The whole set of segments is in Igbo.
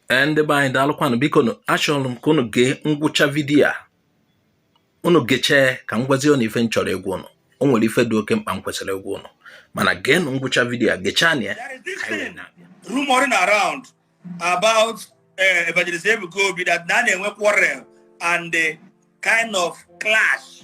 ee ndị be anyị daalụkwanụ biko nụ achọrọ m ka unu gee ngwụcha vidiyo a unu gechee ka m gwazie unu ife m chọrọ ịgwa unu o nwere ife dị oke mkpa m kwesịrị ịgwa unu mana geenụ ngwụcha vidiyo a gechaanụ ya rumoring around about eh, evangelist Ebuka Obi that na a na-enwe quarrel and the kind of clash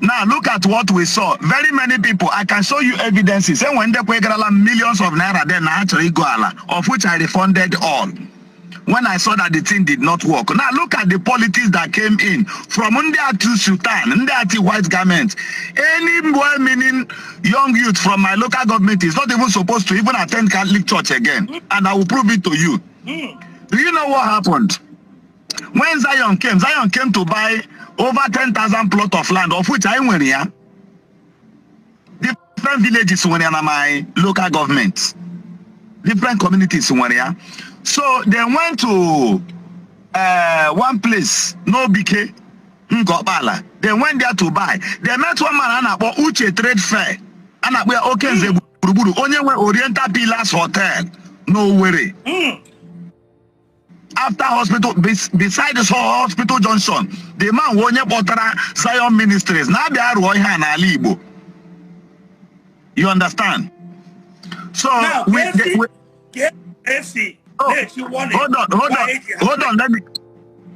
now look at what we saw very many people i can show you evidences enwe ndị kwegarala millions of naira then na ha chọrọ igo ala of which i refunded all when i saw that the thing did not work now look at the politics that came in from ndị atu sultan ndị ati white garment any well meaning young youth from my local government is not even supposed to even attend catholic church again and i will prove it to you do you know what happened when zion came zion came to buy over 10,000 plot of land of which anyị nwere ya different villages nwere ya na my local government different communities nwere ya so they went to uh, one place n'Obike Ngor Okpala they went there to buy they met one man a na-akpọ uche trade fair a na-akpọ ya Okenze gburugburu onye nwe oriental pillars hotel n'owere hmm. after hospital beside this hospital junction the man wụ onye kpọtara Zion Ministries na-abịa rụọ ihe a n'ala Igbo you understand so now, we, the, we, hold on hold on hold on let me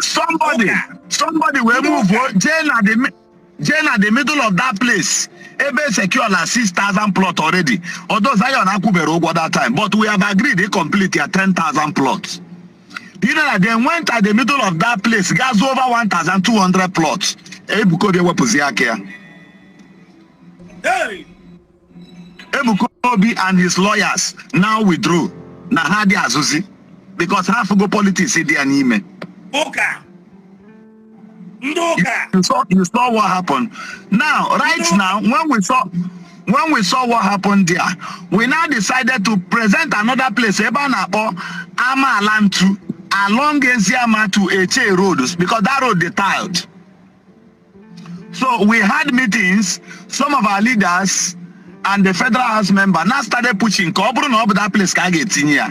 somebody somebody wee move o jee na the mi- jee na the middle of that place ebe secure na 6000 plot already although zion akwụbere ụgwọ that time but we have agreed to complete ya 10000 plot you know that they went at the middle of that place gas over 1200 plots ebukobi ewepụzi aka ya Hey! Ebuka Obi and his lawyers now withdrew na ha adị azụzi because ha fụgo politics dị ya n'ime. Ụka. Ndị ụka. You saw, you saw what happened. Now, right now, when we saw when we saw what happened there, we now decided to present another place ebe a na-akpọ Amaala Ntu along Eziama to Etche roads because that road dị tiled. So we had meetings, some of our leaders and the federal house member now started pushing ka ọ bụrụ na ọ bụ that place ka a ga-etinye ya.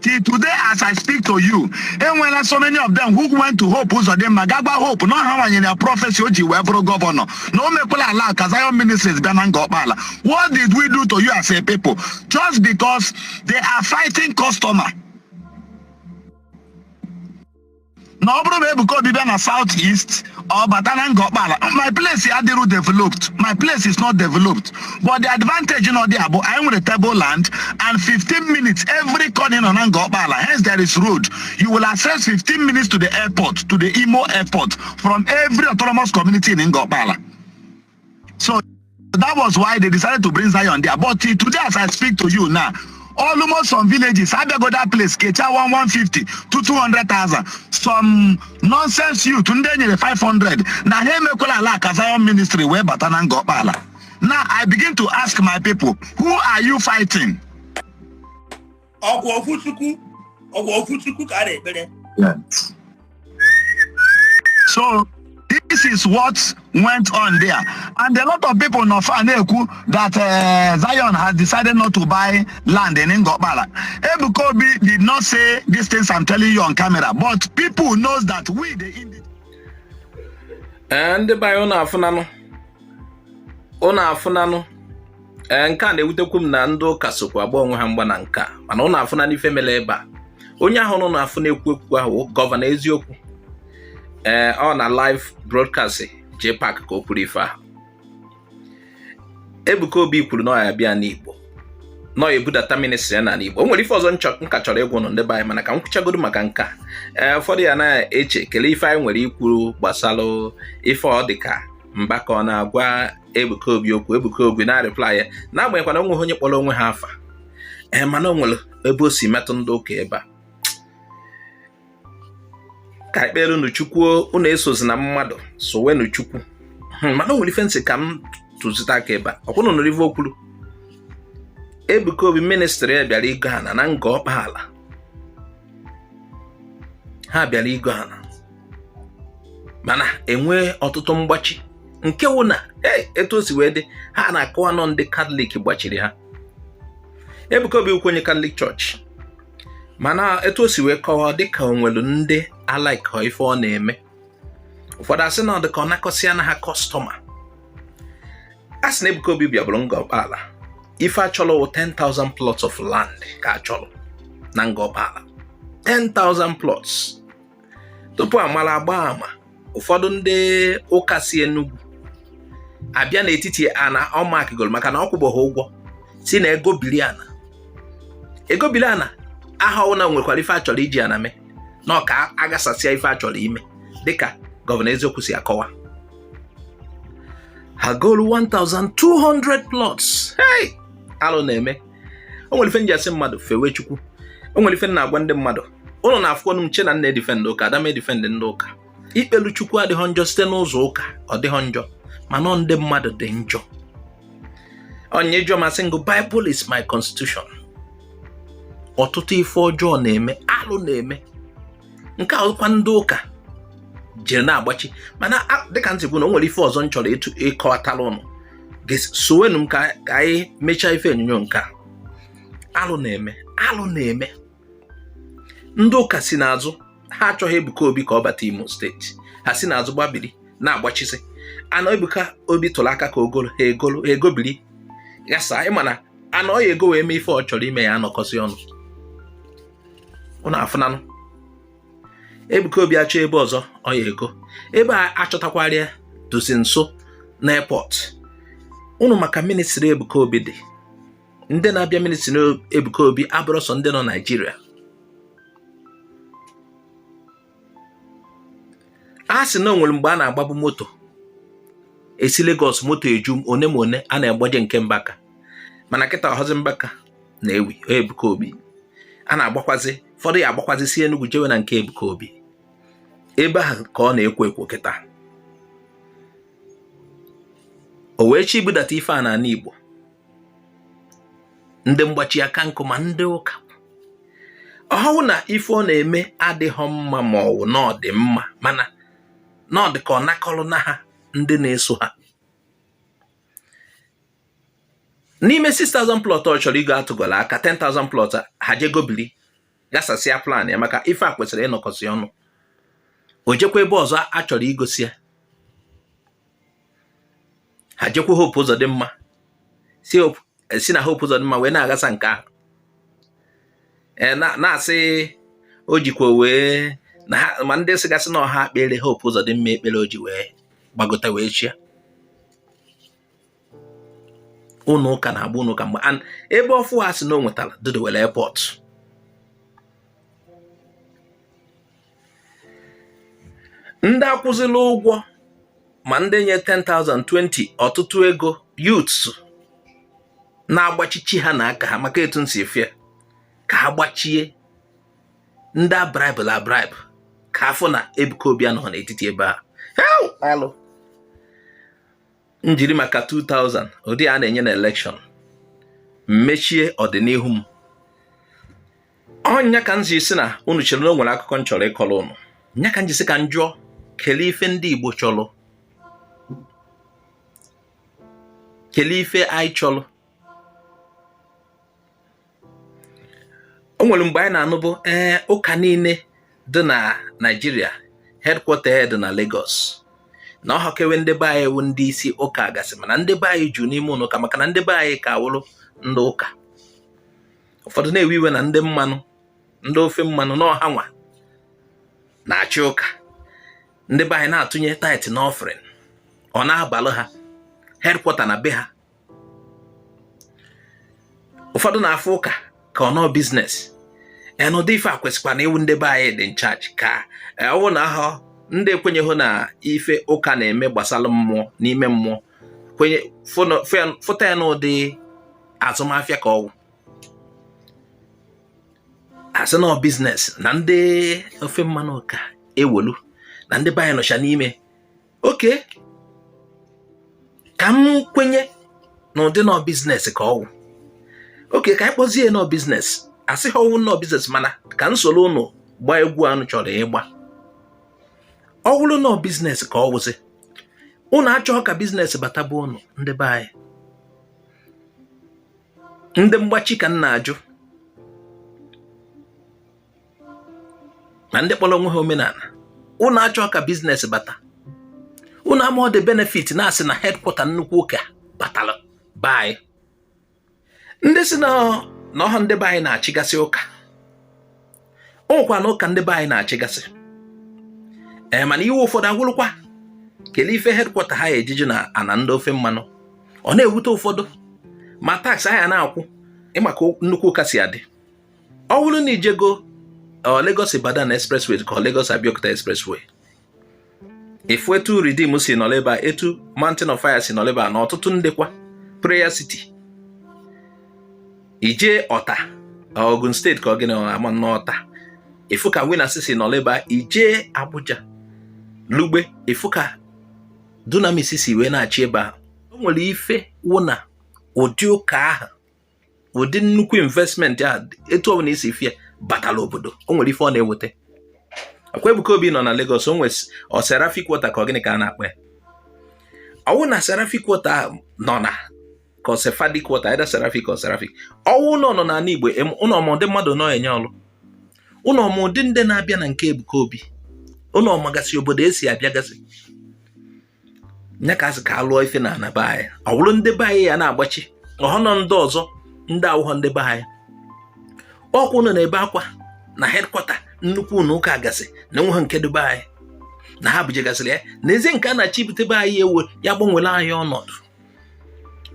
Till today as I speak to you, enwela so many of them who went to Hope Uzodinma ga gwa Hope na ọ hanwa nyere ya prọfesi o ji wee bụrụ gọvanọ na o mekwala ala ka Zion Ministries bịa na Ngor Okpala. What did we do to you as a people? Just because they are fighting customer. na ọ bụrụ na Ebuka Obi bịa na South East ọ bata na Ngor Okpala my place ya adịrụ developed my place is not developed but the advantage nọ there bụ anyị nwere table land and 15 minutes every corner ị nọ na Ngor Okpala hence there is road you will access 15 minutes to the airport to the Imo airport from every autonomous community in Ngor Okpala so that was why they decided to bring Zion there but today as I speak to you now almost some villages abịago that place kecha 150 to 200,000 some nonsense youth ndị e nyere 500 na ha emekwala ala ka Zion ministry wee bata na Ngor Okpala now I begin to ask my people who are you fighting ọkwa otu Chukwu ọkwa otu Chukwu ka a na-ekpere so this is what went on there and a lot of people nọ fa na-ekwu that uh, Zion has decided not to buy land in Ngor Okpala Ebuka Obi did not say these things I'm telling you on camera but people knows that we the indigenes eh, ndị be anyị ụnụ afụnanụ ụnụ afụnanụ ee eh, nke a na-ewutekwu m na ndị ụka sokwa agba onwe ha mgba na nke a mana ụnụ afụnanụ ife mere ebe a onye ahụ ụnụ na-afụ na-ekwu okwu ahụ gọvanọ eziokwu ee eh, ọ na live broadcast JPAC ka o kwuru ife ahụ Ebuka Obi kwuru na ọ ya bịa n'Igbo nọ ebudata ministri ya n'ala Igbo o nwere ife ọzọ m ka chọrọ ịgwa ụnụ ndị be anyị mana ka m kwuchagodo maka nke a ee eh, ụfọdụ ya na-eche kelee ife anyị nwere ikwuru gbasara ife ọ dịka Mbaka ọ na-agwa Ebuka Obi okwu Ebuka Obi na-arịpla ya n'agbanyeghịkwa na o nweghị onye kpọrọ onwe ha afa ee eh, mana o nwere ebe o si metụ ndị ụka ebe a ka ekpere unu chukwu unu esozina mmadụ sowenu chukwu hmm, mana o nwere ife m sị ka m tụzite aka ebe a ọkwa ụnụ nụrụ ife o kwuru Ebuka Obi ministri ya bịara igo ana na Ngor Okpala ha bịara igo ana mana enwee ọtụtụ mgbachi nke wụ na e, etu o si wee dị ha na-akọwa na ọ ndị katọlik gbachiri ha Ebuka Obi wụkwa onye katọlik chọọchị mana etu o si wee kọwa dịka o nwelu ndị alaikọ ife ọ na-eme ụfọdụ asị na ọ dịka ọ nakọsịana ha kọstọma a sị na Ebuka Obi bịabụrụ Ngor Okpala ife achọrọ wụ 10,000 plots of land ka achọrọ na Ngor Okpala 10,000 plots tupu amara agba ama ụfọdụ ndị ụka si Enugu abịa n'etiti ana ọ maakịgoro maka na ọ kwụbeghị ụgwọ si na egobiri ana egobiri ana ahụ ọ wụ na e nwekwara ife achọrọ iji ana mee na ọ ka aghasasịa ife achọrọ ime dịka gọvanọ eziokwu si akọwa ha golu 1200 plots hey alụ na-eme o nwere ife m ji asị mmadụ fewe chukwu o nwere ife m na-agwa ndị mmadụ ụnụ na-afụkwanụ m chee na m na-edifendị ụka ada m edifendị ndị ụka ikpelu chukwu adịghọ njọ site n'ụzọ ụka ọ dịghọ njọ mana ndị mmadụ dị njọ onye jụọ m asị m gị Bible is my constitution ọtụtụ ife ọjọọ na-eme alụ na-eme nke ahụkwa ndị ụka jiri na-agbachi mana dịka m sịbụ na o nwere ife ọzọ m chọrọ ịkọwatara ụnụ sowenụ m ka anyị mechaa ife onyonyo nke a alụ na-eme alụ na-eme ndị ụka si n'azụ ha achọghị Ebuka Obi ka ọ bata Imo steeti ha si n'azụ gbabiri na-agbachisi ana Ebuka Obi tụrụ aka ka o golu ha egolu ha egobiri ghasa ịma na ana ọ ya-ego wee mee ife ọ chọrọ ime ya-anọkọsị ọnụ ụnụ afụnanụ Ebuka Obi achọ ebe ọzọ ọ ya-ego ebe a achọtakwara ya dịzi nso na airport unu ma ka ministry Ebuka Obi dị ndị na-abịa ministry Ebuka Obi abụrọ sọ ndị nọ Naịjirịa a sị na o nwere mgbe a na-agbabu moto esi Lagos moto eju one ma one a na-egbaje nke Mbaka mana kịta ọ họzi Mbaka na-ewu Ebuka Obi a na-agbakwazi ụfọdụ ya agbakwazi si Enugwu jewe na nke Ebuka Obi ebe ahụ ka ọ na-ekwo ekwo kịta o wee chọ ibudata ife a n'ala Igbo ndị mgbachi aka nkụ ma ndị ụka ọ họ na ife ọ na-eme adịhọ mma ma ọ wụ na ọ dị mma mana na ọ dị ka ọ nakọrọ na ha ndị na-eso ha n'ime 6000 plot ọ chọrọ igo atụgọla aka 10000 plot ha jegobili gasasịa plan ya maka ife a kwesịrị ịnọkọsị ọnụ o jekwa ebe ọzọ a chọrọ igosi ya ha jekwa Hope Uzodimma sị eh, na Hope Uzodimma wee na-agasa nke ahụ eh, na-asị o jikwa wee ma ndị sịgasị na ọ ha kpere Hope Uzodimma ekpere o ji wee gbagota wee chịa ụnọ ụka na-agba ụnọ ụka mgba an ebe ọfụ ha sị na o nwetara dịdewere airport ndị akwụzila ụgwọ ma ndị nye 10,000 20 ọtụtụ ego youths na-agbachi echi ha n'aka ha maka etu nsi fie ka ha gbachie ndị a braịbụlụ abraịbụ ka a fụ na Ebuka Obi anọhọ n'etiti ebe a m jiri maka 2000 ụdị a na-enye na election m mechie ọdịnihu m ọ nya ka m ji sị na unu chere na o nwere akụkọ m chọrọ ịkọrọ unu nya ka m ji sị ka m jụọ kelee ife ndị Igbo chọrọ kelee ife anyị chọrọ o nwere mgbe anyị na-anụbụ ee ụka niile dị na Naịjirịa headquarter ya dị na Lagos na ọ họkwe ndị be anyị wụ ndị isi ụka gasị mana ndị be anyị ju n'ime ụlọ ụka maka na ndị be anyị ka wụrụ ndị ụka ụfọdụ na-ewe iwe na ndị mmanụ ndị ofe mmanụ na ọ hanwa na-achị ụka ndị be anyị na-atụnye tithe na offering ọ na-abalụ ha headquarter na be ha ụfọdụ na-afụ ụka ka ọ na ọ business n'ụdị ife a kwesịkwanụ ịwụ ndị be anyị dị in charge ka e, ọwụ na ahụ ndị ekwenyeghị na ife ụka na-eme gbasara mmụọ n'ime mmụọ kwenye fụta ya n'ụdị azụmahịa ka ọwụ asị na ọ business na ndị ofe mmanụ ka e welu na ndị be anyị nọcha n'ime okay ka m kwenye na ụdị na ọ business ka ọwụ okay ka anyị kpọzie ya na ọ business asịghị ọwụ na ọ business mana ka m soro ụnụ gbaa egwu a ụnụ chọrọ ịgba ọ wụrụ na ọ business ka ọ wụzi ụnụ achọghị ka business bata be ụnụ ndị be anyị ndị mgbachi ka m na-ajụ na ndị kpọrọ onwe ha omenala unu achọghị ka business bata unu ama ụdị benefit na asị na headquarter nnukwu ụka batara be anyị ndị sị na ọhọ ndị be anyị na-achịgasị ụka o nwekwanụ ụka ndị be anyị na-achịgasị ee mana iwe ụfọdụ awụrụkwa kelee ife headquarter ha eji dị na ana ndị ofe mmanụ ọ na-ewute ụfọdụ ma tax a ya na-akwụ ị ma ka nnukwu ụka si adị ọ bụrụ na i jego uh, Lagos Ibadan expressway ka Lagos Abeokuta expressway ị fụ etu Redeem si nọrọ ebe a etu Mountain of Fire si nọrọ ebe a na ọtụtụ ndekwa Prayer City i je Ota Ogun State ka ọ gịnị ama n'Ota ị fụ ka Winners si nọrọ ebe a i je Abuja Lugbe ị fụ ka Dunamis si wee na-achị ebe a o nwere ife wụ na ụdị ụka ahụ ụdị nnukwu investment a etu ọbụla i si fụ ya batala obodo o nwere ife ọ na-eweta ọ kwa Ebuka Obi nọ na Lagos o nwere ọ Seraphic water ka ọ gịnị ka a na-akpọ ya ọwụ na Seraphic water nọ na ka ọ Sephardic water either Seraphic or Seraphic ọwụlụ na ọ n'ala Igbo ụnụ ama ụdị mmadụ ọ na-enye ọlụ ụnụ ama ụdị ndị na-abịa na nke Ebuka Obi ụnụ amagasị obodo e si abịagasị nya ka a sị ka a lụọ ife na ana be anyị ọ bụrụ ndị be anyị ya na-agbachi ọhọnụ ndị ọzọ ndị awụghọ ndị be anyị ọkwa ụnụ na-ebe akwa na headquarter nnukwu ụlọ ụka gasị na enweghị nke dị be anyị na ha bujegasịrị ya n'ezi nke a na-achọ ibute be anyị ebe ọ ya-agbanwere anyị ọnọdụ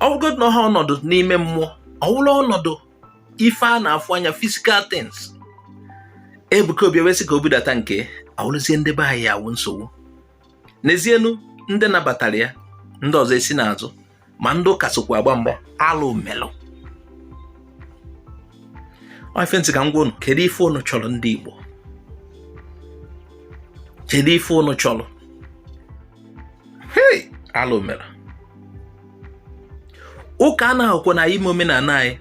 ọwụgodu na ọhọ ọnọdụ n'ime mmụọ ọwụrụ ọnọdụ ife a na-afụ anya physical things Ebuka Obi ewee sị ka o budata nke ọwụrụzie ndị be anyị awụ nsogbu n'ezienu ndị nabatara ya ndị ọzọ esi n'azụ ma ndị ụka sokwa agba mgba alụ melụ ife m sị ka m gwa unu kedu ife unu chọrọ ndị Igbo kedu ife unu chọrọ hei alụ mere ụka anaghịkwanụ anyị ime omenala anyị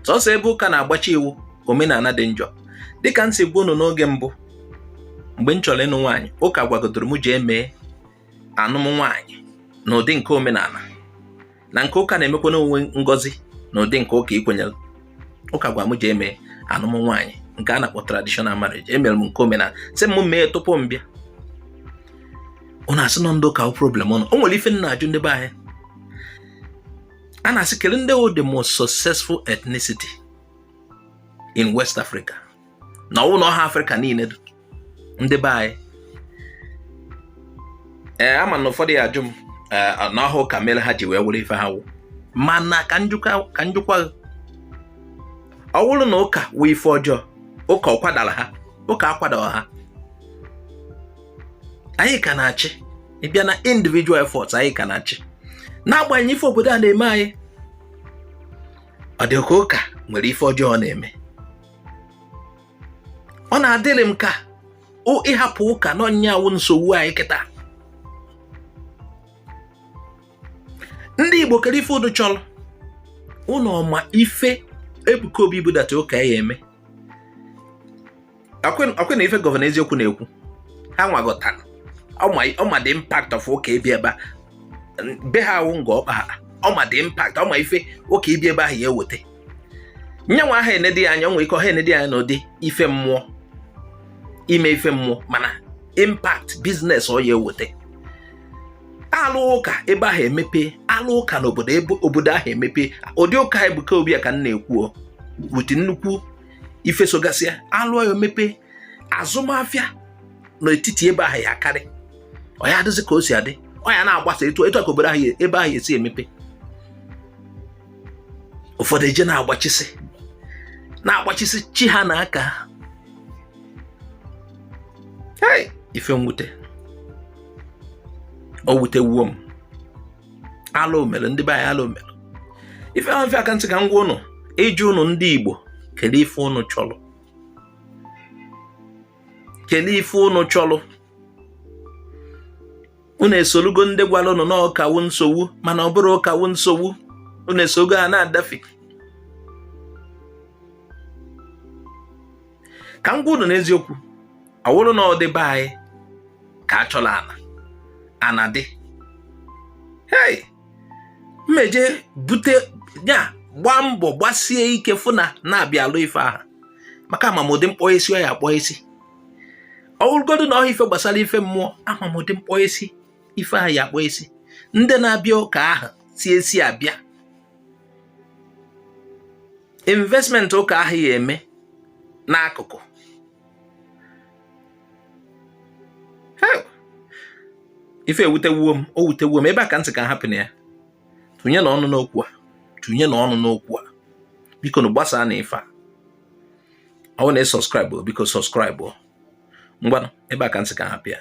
sọsọ ebe ụka na-agbachi iwu omenala dị njọ dịka m si gwa unu n'oge mbụ mgbe m chọrọ ịnụ nwaanyị ụka gwagodoro m jee mee anụm nwaanyị n'ụdị nke omenala na nke ụka na-emekwanụ wụ ngọzi n'ụdị nke ụka i kwenyere ụka gwa m jee mee anụm nwaanyị nke a na-akpọ traditional marriage emere m nke omenala sị m mee tupu m bịa ụnụ asị na ọ ndị ụka wụ problem ụnụ o nwere ife m na-ajụ ndị be anyị a na-asị kedu ndị wụ the most successful ethnicity in West Africa na ọwụna ọha Afrịka niile ndị be anyị ee ama m na ụfọdụ ya ajụ m na ọ wụ ụka mere ha ji wee wụrụ ife ha wụ mana ka m jụkwa ọ wụrụ na ụka wụ ife ọjọọ ụka ọ kwadara ha ụka akwadara ha anyị ka na-achị ị bịa na individual efforts anyị ka na-achị n'agbanyeghị ife obodo a na-eme anyị ọ dị ka ụka nwere ife ọjọọ ọ na-eme ọ na-adịrị m ka ị hapụ ụka n'onwe nya awụ nsogbu anyị kịta ndị Igbo kere ife ụnụ chọrọ ụnụ ọ ma ife Ebuka Obi ibudata ụka ya eme ọkwa na ife gọvanọ eziokwu na-ekwu ha nwa ghọtara ọ ma the impact of ụka ebi ebe a be ha a wụ Ngor Okpala ọ ma the impact ọ ma ife ụka ebi ebe ahụ ya eweta nyanwa aha enedi anya nwee ike ọha enedi anya n'ụdị ife mmụọ ime ife mmụọ mana impact business ọ ya eweta alụ ụka ebe ahụ emepe alụ ụka n'obodo ebe obodo ahụ emepe ụdị ụka Ebuka Obi a ka m na-ekwu wute nnukwu ife sogasịa alụọ ya emepe azụmahịa n'etiti ebe ahụ ya akarị ọ ya adịzi ka o si adị ọ ya na-agbasa etu a ka obodo ahụ ebe ahụ esi emepe ụfọdụ eje na-agbachisi na-agbachisi chi ha na aka hei ife mwute o wutewuo m alụ mere ndị be anyị alụ mere ife ahụ ife a ka m sị ka m gwa ụnụ ịjụ ụnụ ndị Igbo kedu ife ụnụ chọrọ kedu ife ụnụ chọrọ unu esolugo ndị gwara ụnụ na ọ ụka wụ nsogbu mana ọ bụrọ ụka wụ nsogbu unu esogo ha na-adafe ka m gwa unu n'eziokwu ọ wụrụ na ọ dị be anyị ka a chọrọ ana ana dị hei m eje bute ya gbaa mbọ gbasie ike fụ na na-abịa alụ ife ahụ maka ama m ụdị mkpọ esi ọ ya akpọ esi ọ bụrụgodu na ọha ife gbasara ife mmụọ ama m ụdị mkpọ esi ife ahụ ya akpọ esi ndị na-abịa ụka ahụ si esi abịa investment ụka ahụ ya eme n'akụkụ ife ewutewuo m o wutewuo m ebe a ka m sị ka m hapụ nụ ya tụnye nụ ọnụ n'okwu a tụnye nụ ọnụ n'okwu a biko nụ gbasaa nụ ife a ọ na ị subscribe biko subscribe ngwanụ ebe a ka m sị ka m hapụ ya